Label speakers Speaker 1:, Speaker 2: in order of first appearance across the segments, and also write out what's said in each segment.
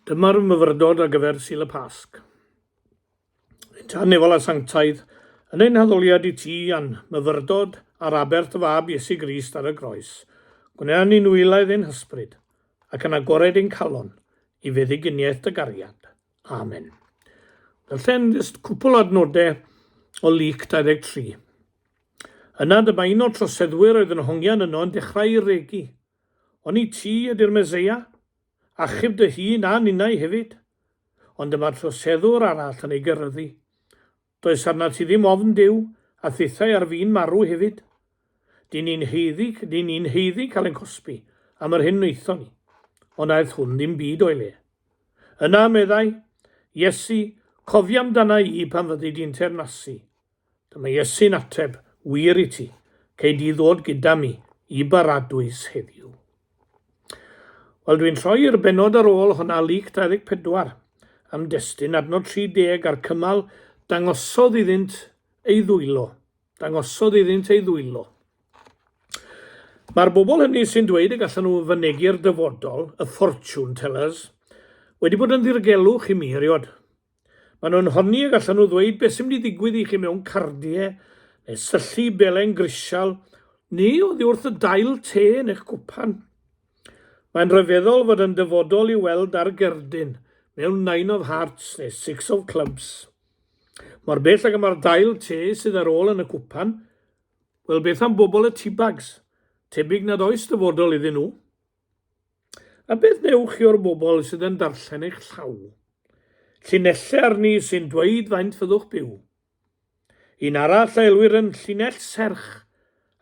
Speaker 1: Dyma'r myfyrdod ar gyfer Sul y Pasg. Yn tan nefol a sanctaidd, yn ein haddoliad i ti, a'n myfyrdod ar aber dy fab Iesu Grist ar y groes, gwna ni'n wylaidd ein hysbryd, ac yn agored ein calon, i feddyginiaeth dy gariad. Amen. Darllen jyst cwpl adnodau o Luc 23. Yna dyma un o'r troseddwyr oedd yn hongian yno yn dechrau regu. Ond i ti ydy'r Meseia. Achub dy hun a ninnau hefyd. Ond dyma'r troseddwr arall yn ei geryddu. Does arnat ti ddim ofn Duw, a thithau ar fin marw hefyd. Dŷn ni'n haeddu, dŷn ni'n haeddu cael ein cosbi am yr hyn wnaethon ni. Ond aeth hwn ddim byd o'i le. Yna, meddai, Iesu, cofia amdana i pan fyddi di'n teyrnasu. Dyma Iesu'n ateb, Wir i ti, cei di ddod gyda mi i baradwys heddiw. Wel, dwi'n troi i'r benod ar ôl hwnna, Luc 24, am destun adnod 30 a'r cymal, dangosodd iddynt ei ddwylo. Dangosodd iddynt ei ddwylo. Mae'r bobl hynny sy'n dweud y gallan nhw fynegi'r dyfodol, y fortune tellers, wedi bod yn ddirgelwch i mi eriod. Maen nhw'n honni y gallan nhw ddweud beth sy'n mynd i ddigwydd i chi mewn cardiau, neu syllu belen grisial, neu oddi wrth y dail te yn eich cwpan. Mae'n rhyfeddol fod yn dyfodol i weld ar gerdyn mewn Nine of Hearts neu Six of Clubs. Mor bell ag y mae'r dail te sydd ar ôl yn y cwpan, wel beth am bobl y teabags? Tebyg nad oes dyfodol iddyn nhw. A beth newch chi o'r bobl sydd yn darllen eich llaw? Llinellau arni sy'n dweud faint fyddwch byw. Un arall a elwir yn llinell serch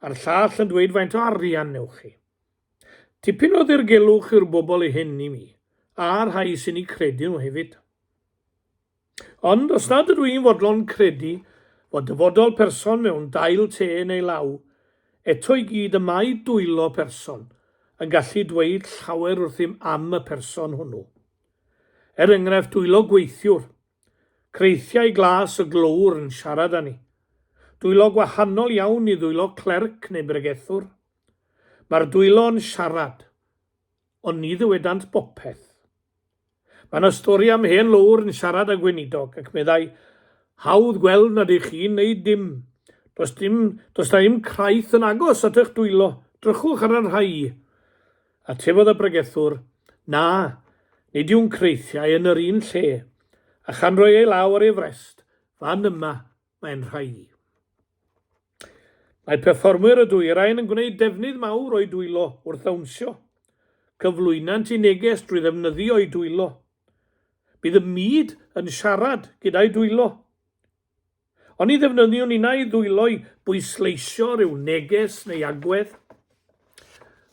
Speaker 1: a'r llall yn dweud faint o arian newch chi. Tipyn o ddirgelwch yw'r bobl hyn i mi, a'r rhai sy'n eu credu nhw hefyd. Ond os nad ydw i'n fodlon credu fod dyfodol person mewn dail te neu law, eto i gyd y mae dwylo person yn gallu dweud llawer wrthym am y person hwnnw. Er enghraifft dwylo gweithiwr, creithiau glas y glöwr yn siarad â ni. Dwylo gwahanol iawn i ddwylo clerc neu bregethwr. Mae'r dwylo yn siarad. Ond ni ddywedant bopeth. Mae yna stori am hen lowr yn siarad â gweinidog ac meddai, Hawdd gweld nad ych chi'n neud dim. Does dim, does na im craith yn agos at eich dwylo, drychwch ar y rhai. Atefodd y bregethwr, Na, nid yw'n creithiau yn yr un lle, a chan roi ei law ar ei frest, Fan yma, mae'n rhai. Mae perfformwyr y dwyrain yn gwneud defnydd mawr o'u dwylo wrth ddawnsio. Cyflwynant i neges drwy ddefnyddio eu dwylo. Bydd y myd yn siarad gyda'u dwylo. Oni ddefnyddiwn innau ddwylo i bwysleisio rhyw neges neu agwedd?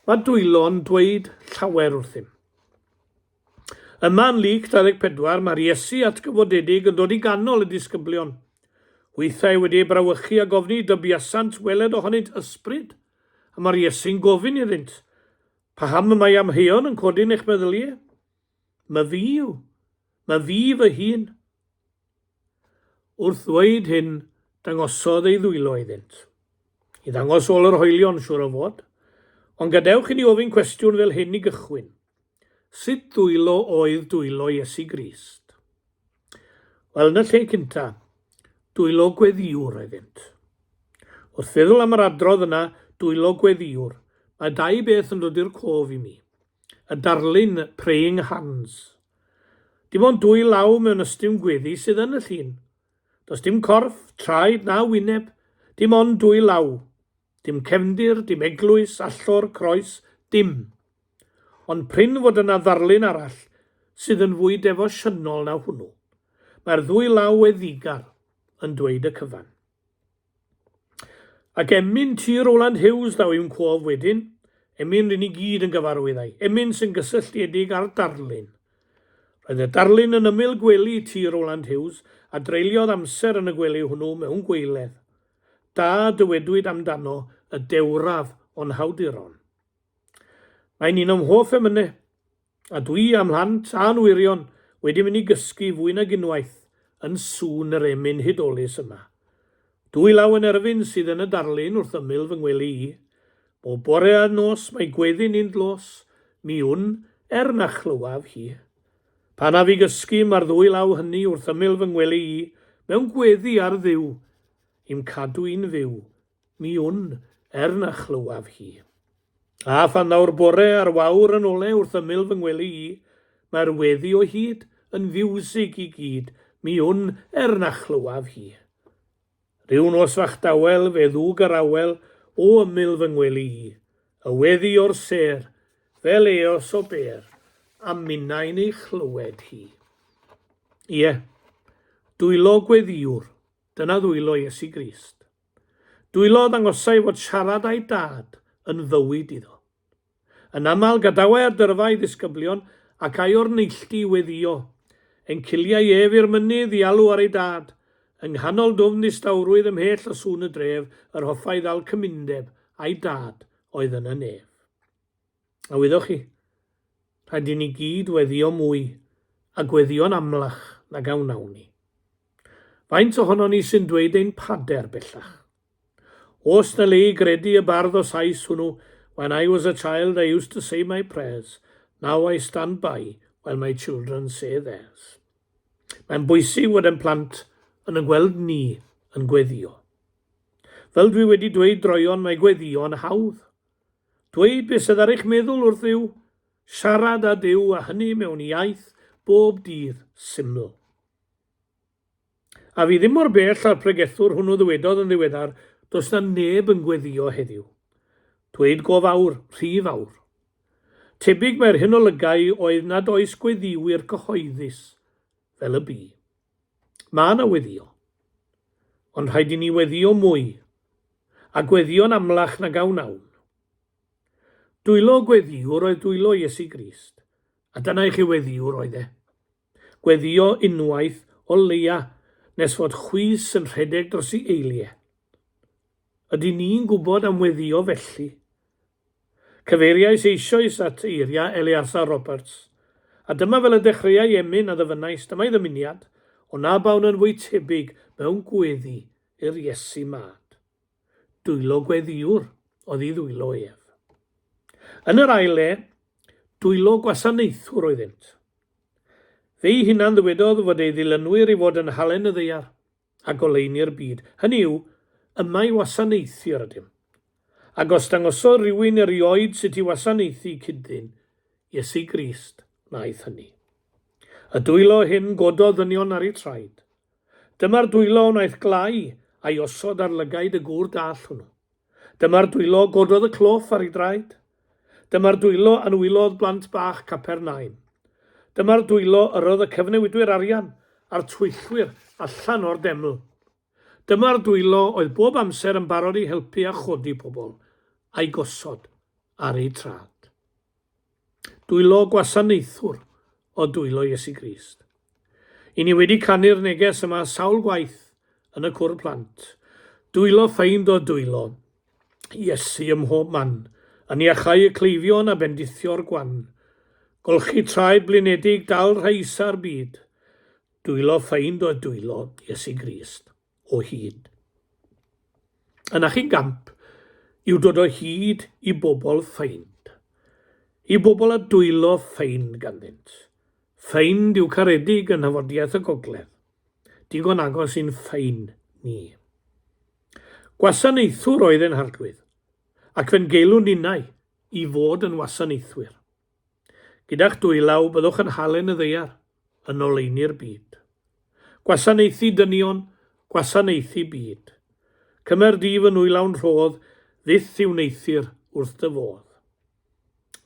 Speaker 1: Mae dwylo'n dweud llawer wrthym. Yma yn Luc 24, mae'r Iesu atgyfodedig yn dod i ganol y disgyblion. Hwythau wedi eu brawychu a gofni i dybiasant weled ohonynt ysbryd, a mae'r Iesu'n gofyn iddynt, Paham y mae amheuon yn codi yn eich meddylie? Mae fi yw. Mae fi fy hun. Wrth ddweud hyn, dangosodd ei ddwylo iddynt. I ddangos ôl yr hoelion, siwr o fod. Ond gadewch i ni ofyn cwestiwn fel hyn i gychwyn. Sut dwylo oedd dwylo Iesu Grist? Wel, yn y lle cynta, dwylo gweddiwr oeddynt. Wrth feddwl am yr adrodd yna, dwylo gweddiwr, mae dau beth yn dod i'r cof i mi. Y darlun Praying Hands. Dim ond dwy law mewn ystum gweddi sydd yn y llun. Does dim corff, traed na wyneb, dim ond dwy law. Dim cefndir, dim eglwys, allor, croes, dim. Ond prin fod yna ddarlun arall sydd yn fwy defosiynol na hwnnw. Mae'r ddwy law we ddigar yn dweud y cyfan. Ac emyn ti Rowland Hughes ddaw i'm cof wedyn, emyn ryn i gyd yn gyfarwydd â'i, emyn sy'n gysylltiedig â'r darlun. Roedd y darlun yn ymyl gwely ti Rowland Hughes a dreuliodd amser yn y gwely hwnnw mewn gweiledd. da a dywedwyd amdano y dewraf o'n hawduron. Mae'n un o'm hoff emyne, a dwi a mhlant a'n wyrion wedi mynd i gysgu fwy nag unwaith yn sŵn yr emyn hudolus yma. Dwy law yn erfyn sydd yn y darlun wrth ymyl fy ngwely i. Bob bore a nos mae gweddi'n un dlos, mi wn, er na chlywaf hi. Pan af i gysgu, mae'r ddwy law hynny wrth ymyl fy ngwely i, mewn gweddi ar Dduw, i'm cadw i'n fyw, mi wn, er na chlywaf hi. A phan ddaw'r bore a'r wawr yn ole wrth ymyl fy ngwely i, mae'r weddi o hyd yn fiwsig i gyd, mi wn, er na chlywaf hi. Rhyw nos fach dawel fe ddwg yr awel o ymyl fy ngwely i, y weddi o'r sêr, fel eos o bêr, a minnau'n ei chlywed hi. Ie, dwylo gweddiwr, dyna ddwylo Iesu Grist. Dwylo ddangosai fod siarad â'i Dad yn fywyd iddo. Yn aml, gadawai ar dyrfa ei ddisgyblion ac ai o'r neilltu i weddïo. Enciliai ef i'r mynydd i alw ar ei dad. Yng nghanol dwfn ddistawrwydd ymhell o sŵn y dref, yr hoffai ddal cymundeb â'i dad oedd yn y nef. A wyddoch chi, rhaid i ni gyd weddïo mwy a gweddïo'n amlach nag a wnawn ni. Faint ohonon ni sy'n dweud ein pader bellach? Os na lei gredu y bardd o Sais hwnnw, When I was a child I used to say my prayers, now I stand by while my children say theirs. Mae'n bwysig fod ein plant yn yn gweld ni yn gweddio. Fel dwi wedi dweud droeon, mae gweddio yn hawdd. Dweud beth sydd ar eich meddwl wrth Dduw, siarad â Duw a hynny mewn iaith bob dydd syml. A fi ddim mor bell â'r pregethwr hwnnw ddywedodd yn ddiweddar, does 'na neb yn gweddio heddiw. Dweud go fawr, rhy fawr. Tebyg mae'r hyn olygai oedd nad oes gweddïwyr cyhoeddus, fel y bu. Ma' 'na weddio. Ond rhaid i ni weddio mwy. A gweddio'n amlach nag a wnawn. Dwylo gweddiwr oedd dwylo Iesu Grist, a dyna i chi weddiwr oedd e. Gweddïo unwaith o leia nes fod chwys yn rhedeg dros i eilie. Ydyn ni'n gwybod am weddïo felly? Cyfeiriais eisoes at eiria Eleazar Roberts, a dyma fel y dechreuai emyn a ddyfynais dyma'i ddymuniad, O na bawn yn fwy tebyg mewn gweddi i'r Iesu mad. dwylo gweddiwr oedd ei ddwylo ef. Yn yr ail le, dwylo gwasanaethwr oeddynt. Fe'i hunan ddywedodd fod ei ddilynwyr i fod yn halen y ddaear a goleuni'r byd, hynny yw, yma i wasanaethu yr ydym. Ac os dangosodd rhywun erioed sut i wasanaethu cyd-ddyn, Iesu Grist wnaeth hynny. Y dwylo hyn gododd ddynion ar eu traed. Dyma'r dwylo a wnaeth glai a'i osod ar lygaid y gŵr dall hwnnw. Dyma'r dwylo gododd y cloff ar ei draed. Dyma'r dwylo a nwylodd blant bach Capernaum. Dyma'r dwylo yr oedd y cyfnewidwyr arian a'r twyllwyr allan o'r deml. Dyma'r dwylo oedd bob amser yn barod i helpu a chodi pobl, a'i gosod ar eu traed. Dwylo gwasanaethwr o dwylo Iesu Grist. I ni wedi canu'r neges yma sawl gwaith yn y cwr plant. Dwylo ffeind o dwylo Iesu ym mhob man, yn iachau y cleifion a bendithio'r gwan. Golchi traed blinedig dal rhai isa'r byd. Dwylo ffeind o dwylo Iesu Grist. o hyd. Yna chi'n gamp yw dod o hyd i bobl ffeind, i bobl a dwylo ffeind ganddynt. Ffeind yw caredig yn nhafodiaeth y gogledd, digon agos i'n ffeind ni. Gwasanaethwr oedd ein harglwydd, ac fe'n geilwn ninnau i fod yn wasanaethwyr. Gyda'ch dwylaw byddwch yn halen y ddaear, yn oleuni'r byd. Gwasanaethu dynion, gwasanaethu byd. Cymer di fy nwylawn rhodd, fyth i wneuthur wrth dy fodd.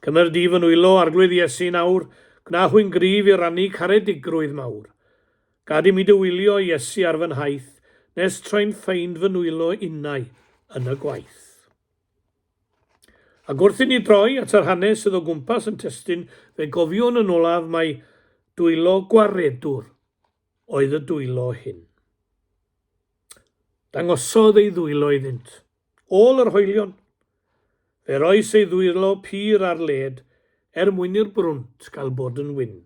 Speaker 1: Cymer di fy nwylo, Arglwydd Iesu, nawr, gwna hwy'n gryf i rannu caredigrwydd mawr. Gad i mi dy wylio, Iesu, ar fy nhaith, nes troi'n ffeind fy nwylo innau yn y gwaith. Ac wrth i ni droi at yr hanes sydd o gwmpas yn testun, fe gofiwn yn olaf mai dwylo gwaredwr oedd y dwylo hyn. Dangosodd ei ddwylo iddynt, ôl yr hoelion. Fe roes ei ddwylo pur ar led er mwyn i'r brwnt gael bod yn wyn.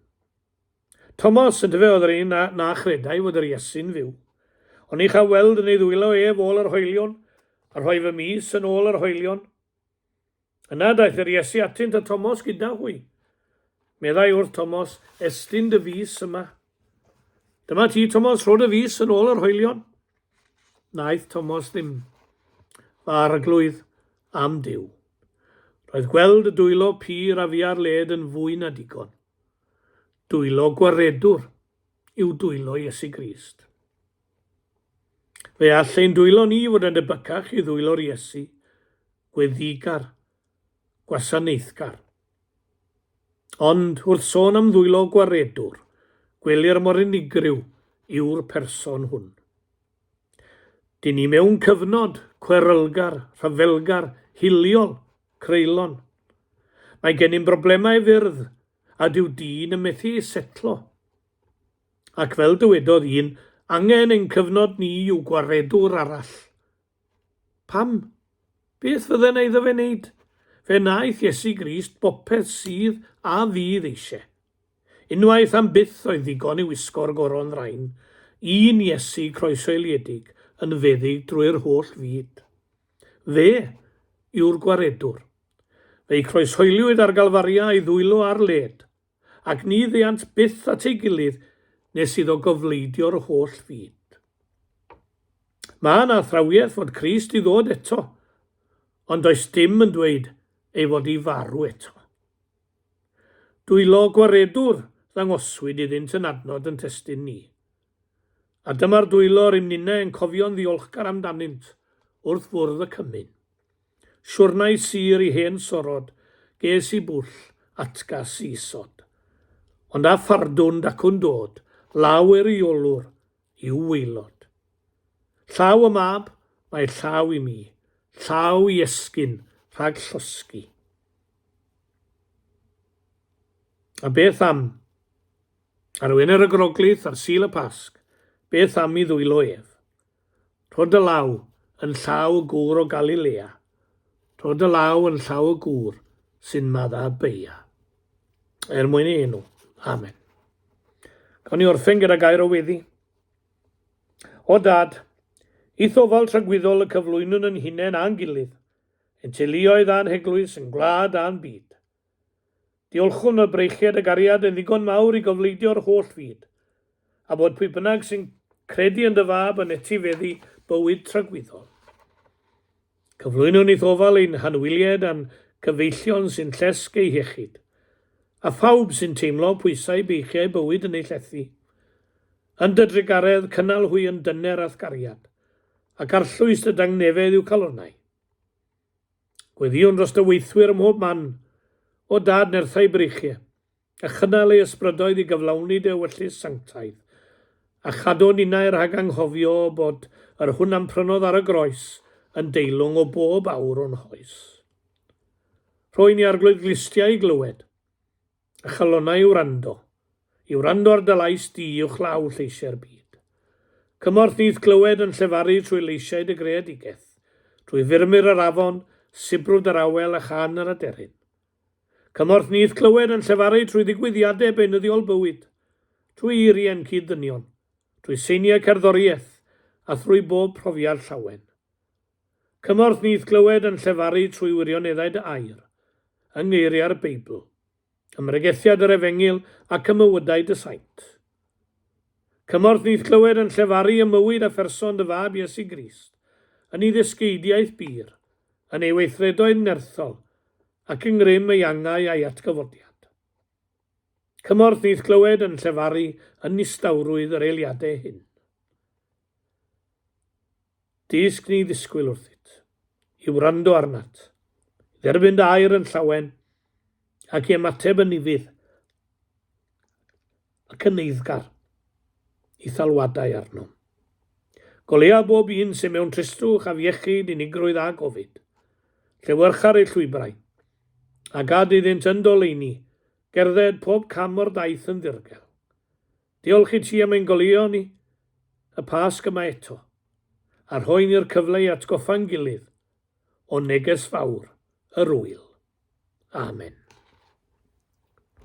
Speaker 1: Tomos, yndyfe, oedd yr un na chredai fod yr Iesu'n fyw. Ond ni cha weld yn ei ddwylo ef ôl yr hoelion, a rhoi fy mis yn ôl yr hoelion. Yna daeth yr Iesu atynt a Tomos gyda hwy. Meddai wrth Tomos, Estyn dy fis yma. Dyma ti, Tomos, rho dy fis yn ôl yr hoelion. Naeth Tomos ddim. Fy arglwydd am Dyw. Roedd gweld y dwylo pur a fiar led yn fwy na digon. Dwylo gwaredwr yw dwylo Iesu Grist. Fe all ein dwylo ni fod yn debycach i ddwylo'r Iesu, gweddigar, gwasanaethgar. Ond, wrth sôn am ddwylo gwaredwr, gwelir mor unigryw yw'r person hwn. Dyn ni mewn cyfnod cwerylgar, rhyfelgar, hiliol, creulon. Mae gennym broblemau fyrdd a dyw dyn yn methu setlo. Ac fel dywedodd un, angen ein cyfnod ni i'w gwaredwr arall. Pam? Beth fydde na iddo fe wneud? Fe wnaeth Iesu Grist bopeth sydd a fydd eisiau. Unwaith am byth oedd ddigon i wisgo'r goron ddrain, un Iesu croesoeliedig yn feddyg drwy'r holl fyd. Fe yw'r Gwaredwr. Fe'i croeshoeliwyd ar Galfaria ei ddwylo ar led, ac ni ddeuant byth at ei gilydd nes iddo gofleidio'r holl fyd. Mae yna athrawiaeth fod Crist i ddod eto, ond does dim yn dweud ei fod i farw eto. Dwylo gwaredwr ddangoswyd iddynt yn adnod yn testyn ni. A dyma'r dwylo rym ninne yn cofio'n ddiolchgar amdanynt wrth fwrdd y cymun. Siwrnai sur i hen sorod ges i bwll atgas i isod. Ond a phardwn dacwn dod law er i olwr i'w waelod. Llaw y mab, mae llaw i mi, llaw i esgyn rhag llosgi. A beth am? Ar Wener y Groglith ar Sul y Pasg, beth am i ddwylo ef? Rho dy law yn llaw y gŵr o Galilea, rho dy law yn llaw y gŵr sy'n madda beia. Er mwyn ei enw. Amen. Gawn ni orffen gyda gair o weddi. O dad, i thofal tragwyddol y cyflwynwn yn hunain a'n gilydd, Ein teuluoedd a'n heglwys yn gwlad a'n byd. Diolchwn y breichiad y gariad yn ddigon mawr i gofleidio'r holl fyd, a bod pwy bynnag sy'n credu yn dy fab yn etifeddu bywyd tragwyddol. Cyflwynwn i'th ofal ein hanwylied a'n cyfeillion sy'n llesg eu hiechyd, a phawb sy'n teimlo pwysau beichiau bywyd yn eu llethu. Yn dy drugaredd cynnal hwy yn dyner a'th gariad, ac arllwys dy dangnefedd i'w calonnau. Gweddïwn dros dy weithwyr ym mhob man, O Dad, nerthau breichie, a chynnal ei ysbrydoedd i gyflawni dy ewyllys sanctaidd, a chadw ninnau rhag anghofio bod yr hwn a'm prynodd ar y groes yn deilwng o bob awr o'n hoes. Rho i ni arglwydd glustiau i glywed, A chalonnau i wrando, i wrando ar dy lais di uwchlaw lleisiau'r byd. Cymorth i'th clywed yn llefaru trwy leisiau dy greadigeth, trwy furmur yr afon, sibrwd yr awel a chan yr aderyn. Cymorth ni i'th clywed yn llefaru trwy ddigwyddiadau beunyddiol bywyd, trwy eiriau'n cyd-ddynion, trwy seiniau cerddoriaeth a thrwy bob profiad llawen. Cymorth nyth glywed yn llefaru trwy wirioneddau dy air, yng ngeiriau'r Beibl, ym mhregethiad yr Efengyl ac ym mywydau dy saint. Cymorth nyth glywed yn llefaru ym mywyd a pherson dy Fab Iesu Grist, yn ei ddysgeidiaeth bur, yn ei weithredoedd nerthol, ac yng ngrym ei angau a'i atgyfodiad. Cymorth nyth glywed yn llefaru yn nistawrwydd yr eiliadau hyn. Dysg ni ddisgwyl wrthyt, i wrando arnat, i dderbyn dy air yn llawen, ac i ymateb yn ufudd ac yn eiddgar i thalwadau arnom. Goleuo bob un sy'n mewn tristwch afiechyd, unigrwydd a gofid. Llewyrcha'r eu llwybrau, a gad iddynt yn doleini gerdded pob cam o'r daith yn ddirgel. Diolch i ti am ein goleuo ni, y Pasg yma eto, a rhoi ni'r cyfle i atgoffa'n gilydd o neges fawr yr Ŵyl. Amen.